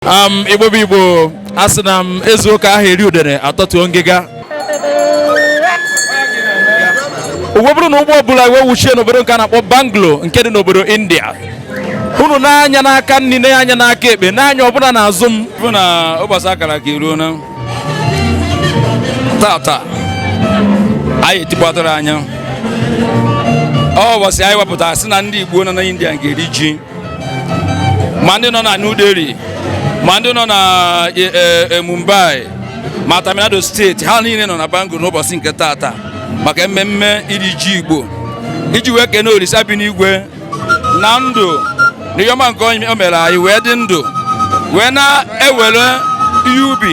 um, igbo bụ igbo a sị na ma e zuo ka a ha eri udere atọtuo ngịga o wee bụrụ na ụgbọ bulu anyị wee wuchie n'obodo nke a na-akpọ bangalore nke dị n'obodo india unu nee anya n'aka nri nee anya n'aka ekpe nee anya ọbụla n'azụ m bụ na ụbọchị a kara aka eruona tata anyị etikpọtara anya ọ ụbọchị anyị wepụtara sị na ndị igbo nọ na india ga-eri ji ma ndị nọ na New Delhi ma ndị nọ na e, e, e, Mumbai ma Tamil Nadu steeti ha niile nọ na Bangalore n'ụbọchị nke taata maka mmemme iri ji Igbo iji wee kene Olisa bi n'igwe na ndụ na ihe ọma nke o mere anyị wee dị ndụ wee na-ewere ihe ubi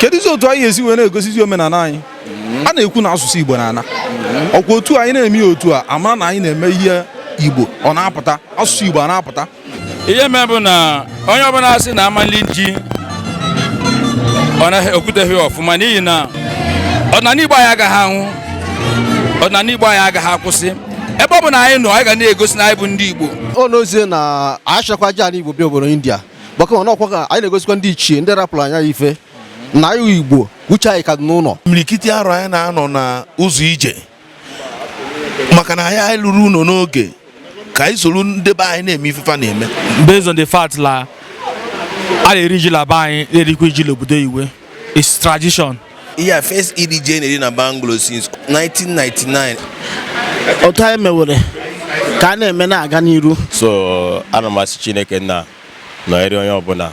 kedụzi otu anyị esi wee na-egosizi omenala anyị a na-ekwu na asụsụ Igbo na-ana ọ kwa otu anyị na-eme ya otu a a mara na anyị na-eme ihe Igbo ọ na-apụta asụsụ Igbo a na-apụta ihe mee bụ na onye ọbụla sị na a ma-eli ji o kwuteghị ọfụma n'ihi na ọdịnala Igbo anyị agaghị anwụ ọdịnala Igbo anyị agaghị akwụsị ebe ọbụna anyị nọ anyị ga na-egosi na anyị bụ ndị Igbo ọ n'ezie na a chịkwa ji ala Igbo bịa obodo India maka na ọ kwa ka anyị na-egosikwa ndị ichie ndị rapụrụ anyị ife n'anị igbo uche anyị ka dị n'ụlọ imirikiti arọ anyị na-anọ na ụzọ ije maka na anyị eluro ụlọ n'oge ka anyị soro ndị be anyị na-eme ife fa na-eme based on the fact la a na-eri ji la be anyị na-erikwa iji la obodo iwe It's tradition. Yeah, first iri ji na-eri na Bangalore since 1999. Otu anyị mewere ka a na-eme na-aga n'iru. So ana m asị Chineke nna nọnyere onye ọbụla.